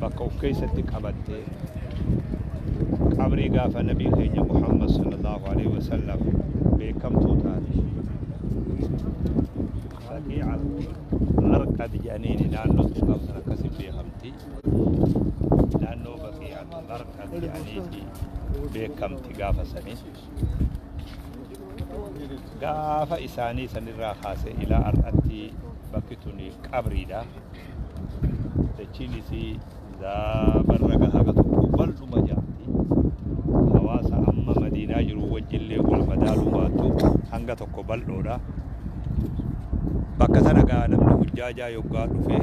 bakka uf keessatti qabattee qabrii gaafa nabii keenya muhammad sallallahu alaihi wasallam beekamtuu taate baqiica marqad jedhaniini naannoo sun qabsan akkasi beekamti naannoo baqiica marqad jedhaniiti beekamti gaafa sanii gaafa isaanii sanirraa kaasee ilaa har'atti bakki tuni qabriidha. Dachiin isii zaabarra gahaga tokko bal'uma jaamti. Hawaasa amma madiinaa jiru wajjillee wal madaaluu baattu hanga tokko bal'oodha. Bakka sana gaa namni hujjaajaa yoggaa dhufee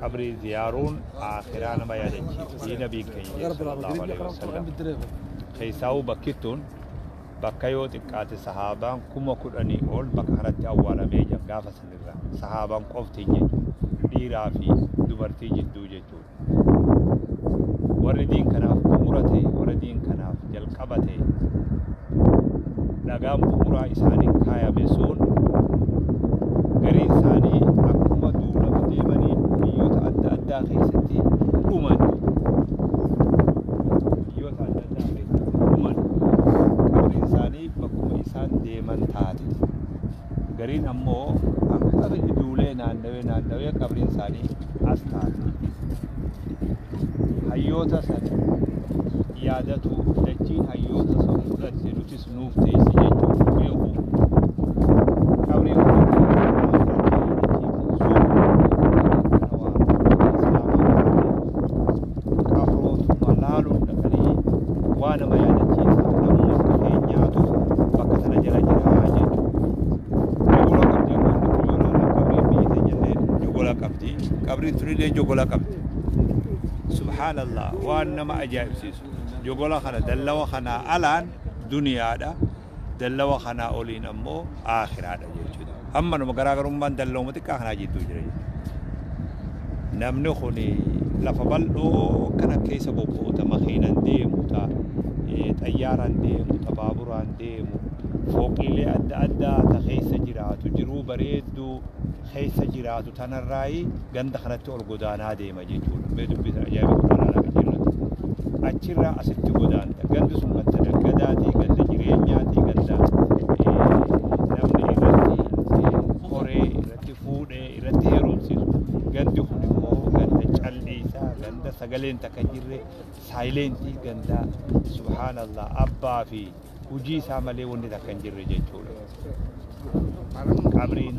qabrii ziyaaruun aakhiraa nama yaadachiisa hii nabiin keenya jedhe sallallahu alaihi wasallam keessaa'uu bakkittuun bakka yoo xiqqaate sahaabaan kuma kudhanii ol bakka kanatti awwaalamee jiran gaafa sanirra sahaabaan qoftiin jechuun dhiiraa fi dubartii jidduu jechuun warri diin kanaaf bu'uura ta'e warri diin kanaaf jalqaba ta'e dhagaan bu'uuraa isaaniin kaayame sun gariin isaanii akkuma duulaaf deemanii biyyoota adda addaa keessatti dhuman biyyoota adda addaa keessatti dhuman qabriin isaanii bakkuma isaan deeman taate gariin ammoo akka biyyi duulee naannawee naannawee qabriin isaanii as taate hayyoota san yaadatu dachiin hayyoota san fudhatte nutis nuuf teessi jechuun beeku qabriin qabrootumma laaluun dhaqanii waa nama yaadachiisa namuu akka keenyaatu bakka sana jala jiraa jechuudha. Jogola qabdi amma irratti yoo ilaalan qabriin biyyi teenyallee jogola qabdi qabriin tunillee jogola qabdi. Subhaanallah waan nama ajaa'ibsiisu jogola kana dallawa kanaa alaan duniyaadha. Dallawa kanaa oliin ammoo Aakhiraadha jechuudha. Ammanuma garaagarummaan dallawuma xiqqaa kanaa jidduu jira jechuudha. Namni kun lafa bal'oo kana keessa bobba'uta makiinan deemuta xayyaaraan deemuta baaburaan deemu fooqiilee adda addaa ta keessa jiraatu jiruu bareedduu keessa jiraatu tanarraayi ganda kanatti ol godaanaa deema. Oromiyaa jechuudha. Mee dubbisaa ajaa'iba kun Araanaa kan jennutti. Achirraa asitti godaanta. Gandi sun ganda naggadaatii, ganda jireenyaatii, ganda namni irratti koree, irratti fuudhee, irratti heerumsiisu. Gandi kun immoo ganda calliisaa, ganda sagaleen takka hin jirre, saayileentii, ganda subhaanallah abbaa fi hujii isaa malee wanni takka hin jirre jechuudha. Qabriin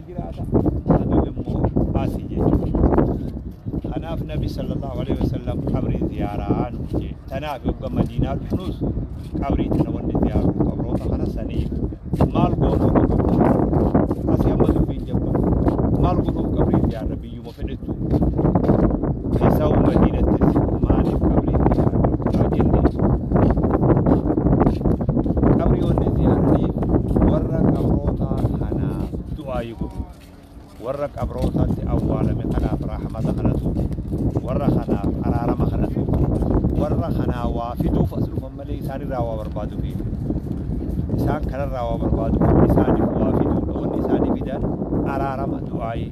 jiraata. Adun immoo asi jechuudha. Kanaaf Nabi sallallahu alaihi wasallam qabrii ziyaaraa nu jee. Tanaaf yogga Madiinaa dhufnus qabrii tana wanni ziyaaruu qabroota kana sanii maal goonoo qabroota asi amma dubbiin jabba maal godhuuf qabrii ziyaarra biyyuma fedhetu Esawu madiinattis maaliif qabrii ziyaaraa dhorkaa jenne qabriyoonni ziyaaranii warra qabrootaa kanaaf du'aayii godhu warra qabrootaatti awwaalame kanaaf rahmata kadhatu warra kanaaf araarama kadhatu warra kanaa waa fiduuf as dhufan malee isaanirraa waa barbaadu fi isaan kanarraa waa barbaadu isaaniif waa fiduudha wanni isaanii fidan araarama du'aayii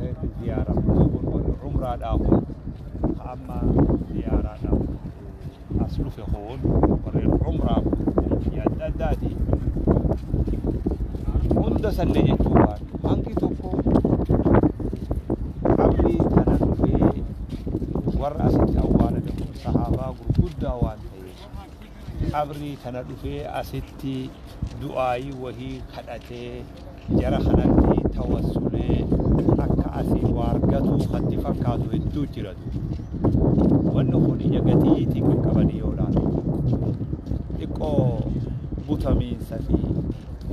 reeffi ziyaaramtee warri umraadhaa kun ka amma ziyaaraadhaaf as dhufe kun warreen umraa kun biyya adda addaati hunda sanne jechuu waan hangi tokko qabri kana dhufee warra asitti awwaalame kun sahaabaa gurguddaa waan ta'eef qabrii tana dhufee asitti du'aayii wahii kadhatee jara kanatti tawassulee akka asii waargatuu kanti fakkaatu hedduu jira duuba wanni kun ija gatiitiin kan qabanii yoo ilaalu xiqqoo butamiinsa fi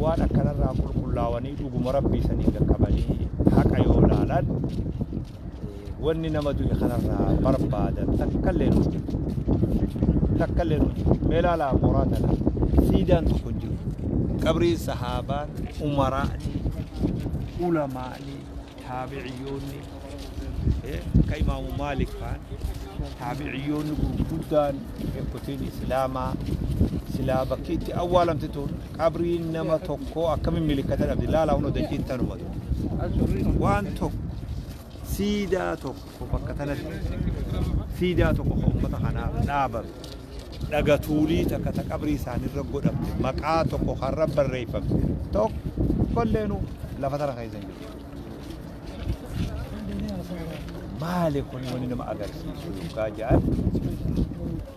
waan akkanarraa qulqullaawanii dhuguma rabbii saniin qaqqabanii haqa yoo ilaalan Wanni nama du'e kanarraa barbaadan takkallee nu jiru. Takkallee nu jiru. Mee ilaalaa mooraa kana siidaan tokko hin jiru. Qabriin sahaabaan, umaraani, ulamaani, taabiciyyoonni, eh, akka imaamu Maalik faan, taabiciyyoonni gurguddaan beekotiin Islaamaa silaa bakki itti awwaalamte tun qabriin nama tokkoo akkamiin milikkata dhabdi laalaa hunda daqiin tanuma tokko waan tokko siidaa tokko bakka tanatti siidaa tokko kan uummata kanaaf dhaabame dhagatuulii takka ta qabrii isaanirra godhamte maqaa tokko karra barreeffamte tokkolleenu lafa tana keessa hin jiru. Maali kun wanni nama agarsiisu yookaan jedhan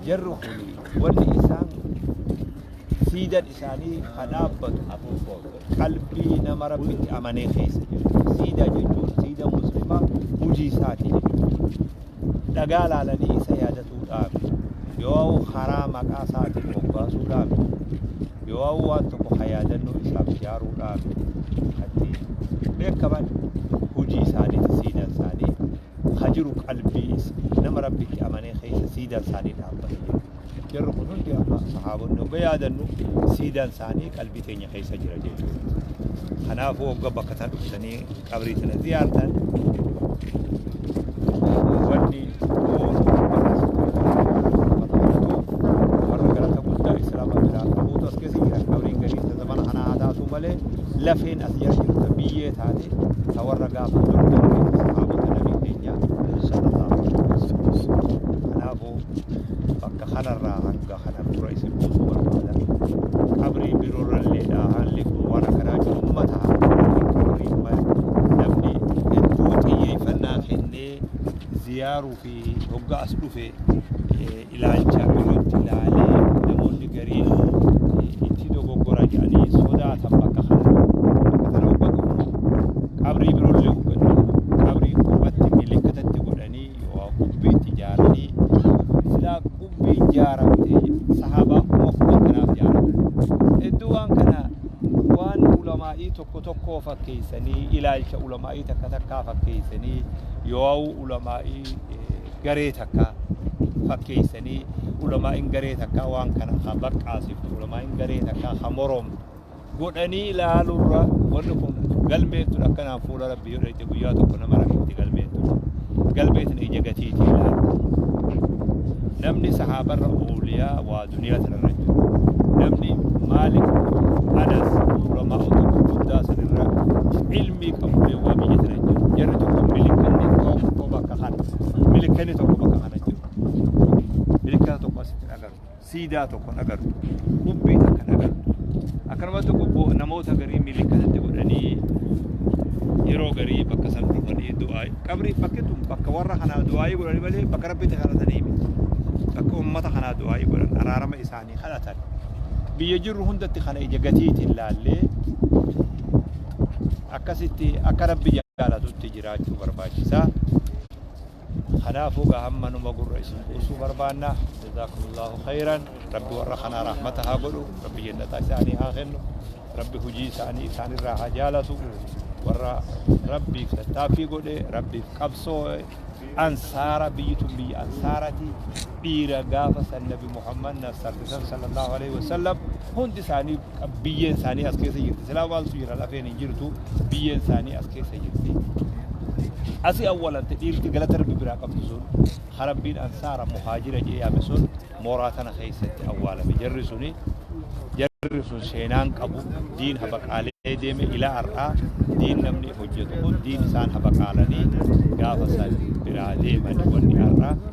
jarri kun wanni isaan siidan isaanii ha dhaabbatu qalbii nama rabbitti amanee keessa jiru siidaa jechuun siida muslimaa hujii isaati jechuudha dhagaa laalanii isa yaadatuudhaaf yoo karaa maqaa isaatiin moggaasuudhaaf yoo waan tokko ha yaadannoo isaaf ijaaruudhaaf atti beekaman hujii isaanii siidan isaanii ha jiru qalbii nama rabbitti amanee keessa siidan isaanii dhaabbatu jechuudha Jarri kun hundi amma sahaabonni hogga yaadannu siidaan isaanii qalbii teenya keessa jira jechuudha. Kanaafuu hogga bakka tan dhuftanii qabrii tana ziyaartan wanni oolu warra galata guddaa islaama biraa qabuutu as keessa jira qabriin gadiin ta zamana kanaa haa taatu malee lafeen as jira jirtu ta biyyee taate ta warra gaafa dur koo bakka kanarraa hanga kana dura isin buusu barbaada. Qabrii biroorra illeedha haalli kun waan akkanaa jiru uummata haalaatiin qabrii namni hedduu xiyyeeffannaa kennee ziyaaruu fi hoggaa as dhufe ilaalcha birootti ilaalee namoonni gariin itti dogoggora jedhanii sodaatan bakka kana bakka kana hoggaa dhufu qabrii biroollee hoggaa qabrii qubatti milikkitatti godhanii yookaa qubbii itti ijaaranii silaa qubbii ijaaramte sahaabaan kuma kudhan kanaaf ijaarame hedduu waan kana waan ulamaa'ii tokko tokkoo fakkeessanii ilaalcha ulamaa'ii takka takkaa fakkeessanii yookaa ulamaa'ii garee takka fakkeessanii ulamaa'in garee takkaa waan kana ha baqqaasiftu ulamaa'in garee takkaa ha moromtu godhanii ilaalurra wanni kun galmeen tun akkanaan fuula rabbii yoo dhayxe guyyaa tokko nama rakkitti galmeen tun galmeen tun ija gatiiti ilaalti namni sahaabarra ooliyaa waa duniyaa sanarra jiru namni maalik anas ulamaa utuu guddaa sanirra ilmii qabullee waa biyya sana jiru jarri tokko milikanni tokko bakka kana milikanni tokko bakka kana jiru milikanni tokko asitti hin agartu siidaa tokko hin agartu qubbii takka hin agartu akkanumatti qubbo namoota garii miilii kanatti godhanii yeroo garii bakka san dhufanii du'aa qabrii bakki tun bakka warra kanaa du'aayii godhanii malee bakka rabbitti kadhatanii miti bakka ummata kanaa du'aayii godhan araarama isaanii kadhatan biyya jirru hundatti kana ija gatiitiin laallee akkasitti akka rabbi jaalatutti jiraachuu barbaachisaa Kanaafuu egaa hammanuma gurra isin buusuu barbaanna. Jazaakumullahu khayran. Rabbi warra kanaa rahmata haa godhu. Rabbi jannataa isaanii haa kennu. Rabbi hujii isaanii isaanirraa haa jaalatu. Warra Rabbiif tattaaffii godhe, Rabbiif qabsoo'e, ansaara biyyi tun biyya ansaarati. dhiira gaafa san nabi muhammad na saffisan sallallahu alaihi wasallam hundi isaanii biyyeen isaanii as keessa jirti silaa maaltu jira lafeen hin jirtu biyyeen isaanii as keessa jirti asi awwalante dhiirti galata rabbi biraa qabdu sun harabbiin ansaara muhaajira jee yaame sun mooraa tana keessatti awwaalame jarri suni jarri sun seenaan qabu diin habaqaalee deeme ilaa har'aa diin namni hojjetu kun diin isaan habaqaalanii gaafa san biraa deemani wanni har'aa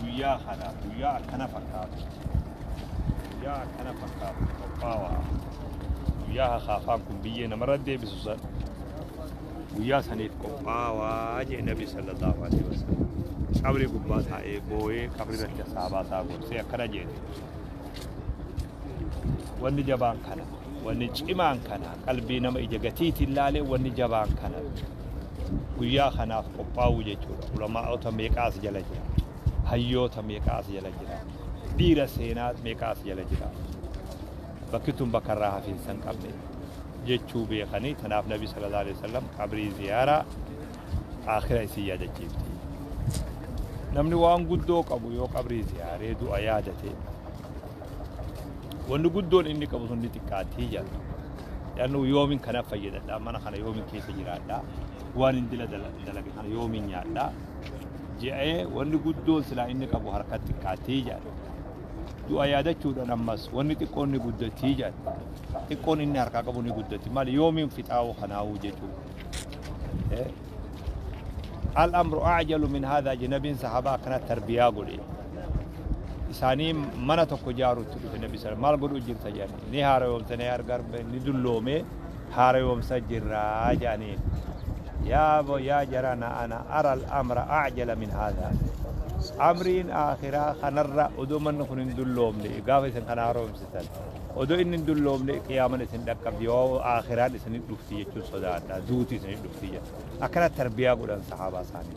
guyyaa kana guyyaa akkana fakkaatu guyyaa akkana fakkaatu qophaawaa guyyaa hakaafaan kun biyyee namarra deebisu san guyyaa saniif qophaawaa jee nabi sallallahu alaihi wasallam qabri gubbaa taa'ee booyee qabri irratti saabaa isaa gorsee akkana jeete wanni jabaan kana wanni cimaan kana qalbii nama ija gatiitiin laalee wanni jabaan kana guyyaa kanaaf qophaa'uu jechuudha ulamaa'ota meeqaa as jala jira hayyoota meeqaa as jala jira dhiira seenaa meeqaa as jala jira bakki tun bakka irraa hafiinsa hin qabne jechuu beekanii tanaaf nabi sallallahu alaihi wasallam qabrii ziyaaraa aakhira isin yaadachiifti namni waan guddoo qabu yoo qabrii ziyaaree du'a yaadate Wanni guddoon inni qabu sun ni xiqqaattii jedha. Yaannu yoomin kana fayyadadha, mana kana yoomin keessa jiraadha, waan hin dila dala- dalage kana yoomin nyaadha. Je'ee wanni guddoon silaa inni qabu harka xiqqaattii jedha. Du'a yaadachuudhaan ammas wanni xiqqoon ni guddattii jedha. Xiqqoon inni harkaa qabu ni guddatti. Maal yoomin fixaa'u kanaa'u jechuudha. Eh? Al-amru ajalu min haadha jennabiin sahabaa akkana tarbiyaa godhe. isaanii mana tokko ijaaruutti dhufe nabi sana maal godhuu jirta jedhanii ni haarayoomsanii argaa ni dulloomee haarayoomsa jirraa jedhanii yaa bo yaa jarana ana aral amra ajala min haadaa amriin akhiraa kanarra odoo manni kun hin dulloomne gaafa isin kana haarayoomsitan odoo inni hin dulloomne qiyaaman isin dhaqqabdi yoo akhiraan isin dhufti jechuun sodaadha duuti isin dhufti jedha akkana tarbiyaa godhan sahaabaa isaanii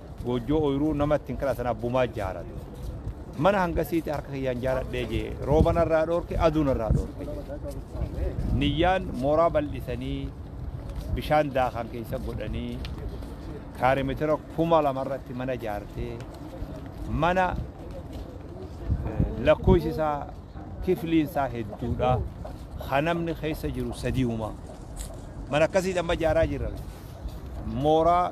Goojjoo oyiruu nama ittiin kadhatan abbumaa ijaaradhe. Mana hangasiiti harka kiyyaan ijaaradhee jee rooba narraa dhoorke aduu narraa dhoorke jee. Niyyaan mooraa bal'isanii bishaan daakaan keessa godhanii kaarimeetira kuma lama irratti mana ijaartee mana lakkoofsi isaa kifliin isaa hedduudha. Kan namni keessa jiru sadiiwuma. Mana akkasiidhaan ijaaraa jirra. Mooraa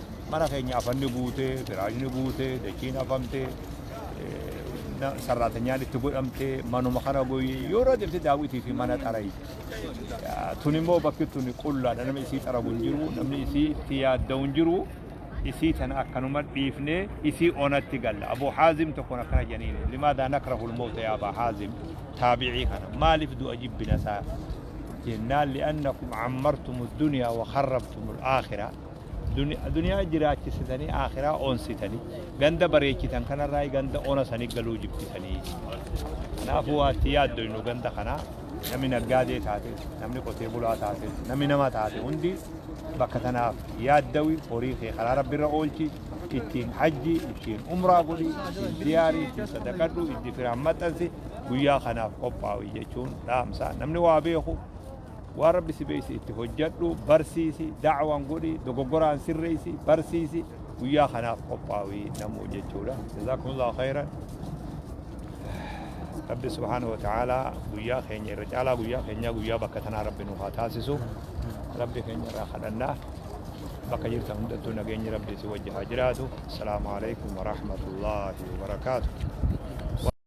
Mana keenya afanni guutee, firaashni guutee, dachiin afamtee, na- sarraatanyaan itti godhamtee, manuma kana goyee yeroo deemte daawwitii fi mana xarayi. Yaa, Tun immoo bakki tun qullaadha namni isii xaragu hin jiru, namni isii itti yaadda'u hin jiru. Isii tana akkanuma dhiifnee isii onatti galla. Abuu Haazim tokkoon akkana jedhaniin limaadaa nakrahul mawta yaa Abaa Haazim taabicii kana maaliif du'a jibbina isaa jennaan li'annakum cammartum addunyaa wa kharrabtum alaakhira. Duniyaa jiraachisitanii aakhiraa onsitanii ganda bareechitan kanarraa ganda ona sanii galuu jibbitanii. Kanaafuu waatti yaaddoynu ganda kanaa namni naggaadee taate namni qotee bulaa taate namni nama taate hundi bakka tanaaf yaaddawi horii kee karaa rabbirra oolchi ittiin hajji ittiin umraa godhi ittiin ziyaarii ittiin sadaqadhu itti firaan maxxansi guyyaa kanaaf qophaa'u jechuun dhaamsa namni waa beeku Waan Rabbi si beeyse itti hojjadhu, barsiisi, da'waan godhi, dogoggoraan sirreeysi, barsiisi, guyyaa kanaaf qophaawi namuu jechuudha. Jazaakumullahu khayran. Rabbi subhaanahu wa ta'aalaa guyyaa keenya irra caalaa guyyaa keenyaa guyyaa bakka tanaa Rabbi nu haa taasisu. Rabbi keenya irraa kadhannaa. Bakka jirtan hundattuu nageenyi Rabbi si wajji haa jiraatu. Assalaamu alaikum wa rahmatullaahi wa barakaatu.